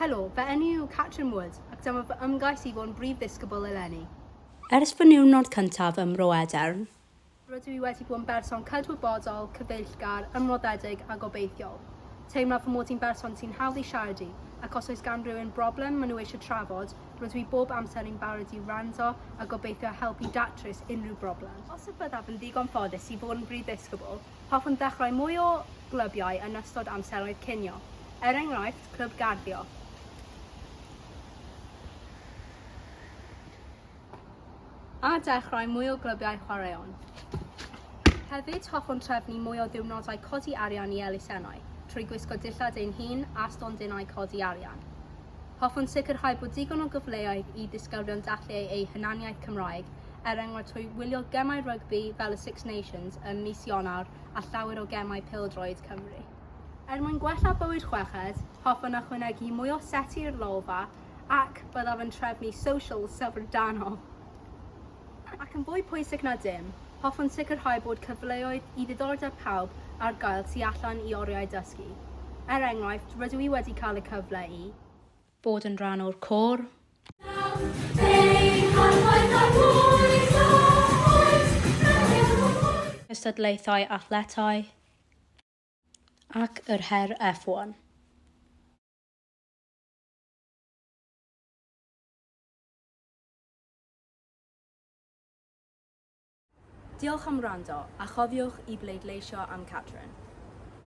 Helo, fy enw yw Catrin Wood ac dyma fy ymgais i fod yn Brif Ddisgybl eleni. Ers fy niwrnod cyntaf ym Mro Edern, rydw i wedi bod yn berson cydwybodol, cyfeillgar, ymroddedig a gobeithiol. Teimlaf fy mod i'n berson sy'n hawdd i siarad i ac os oes gan rywun broblem maen nhw eisiau trafod, rydw i bob amser yn barod i wrando a gobeithio helpu datrys unrhyw broblem. Os y byddaf yn ddigon ffodus i fod yn Brif Ddisgybl, Hoffwn ddechrau mwy o glybiau yn ystod amseroedd cinio, er enghraifft clwb garddio. A dechrau mwy o glybiau chwaraeon. Hefyd, hoffwn trefnu mwy o ddiwrnodau codi arian i elusennau, trwy gwisgo dillad ein hun a stondinau codi arian. Hoffwn sicrhau bod digon o gyfleoedd i ddisgyblion dathlu eu hunaniaeth Cymraeg, er enghraifft trwy wylio gemau rygbi fel y Six Nations ym mis Ionawr a llawer o gemau pêl-droed Cymru. Er mwyn gwella bywyd chweched, hoffwn ychwanegu mwy o seti i'r lolfa ac byddaf yn trefnu socials syfrdanol. Ac yn fwy pwysig na dim, hoffwn sicrhau bod cyfleoedd i ddiddordeb pawb ar gael tu allan i oriau dysgu. Er enghraifft, rydw i wedi cael y cyfle i. Bod yn rhan o'r côr. Cystadlaethau athletau ac yr her F1. Diolch am wrando, a chofiwch i bleidleisio am Catrin.